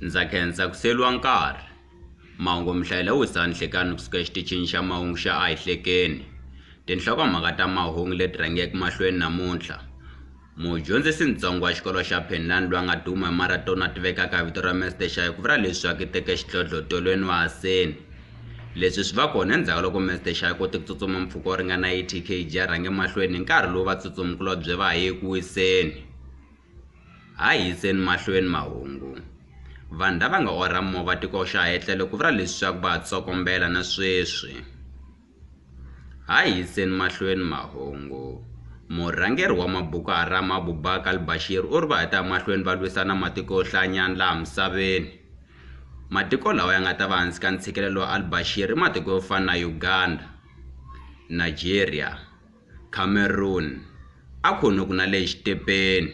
ndza khensa ku siyeriwa nkarhi mahungu mihlayela wisa nhlekani kusuka exitichini xa mahungu xa a hi hlekeni tinhlokomhaka ta mahungu leti rhangeke mahlweni namuntlha Mudyondzisi-ntsongo wa xikolo xa Penland lwa nga duma hi marato na tivekaka vito ra Mr Shayi ku vula leswaku i teke xidlodlo tolweni wa Haseni. Leswi swi va kona endzhaku loko Mr Shayi a kote ku tsutsuma mpfhuka wo ringana 80 kg a rhange mahlweni hi nkarhi lowu vatsutsumi-kulobye va ha ye ku wiseni. Ha yiseni mahlweni mahungu. Vanhu lava nga orha movha tiko xa ha etlele ku vula leswaku va ha tsokombela na sweswi. Ha yiseni mahlweni mahungu. Murhangeri wa Maboko Haram Abubakar al-Bashir u ri va ha ta ya mahlweni va lwisana na matiko yo hlayanyana laha misaveni. Matiko lawa ya nga ta va hansi ka ntshikelelo wa al-Bashir i matiko yo fana na Uganda, Nigeria, Cameroon, a khunhuku na le xitepeni.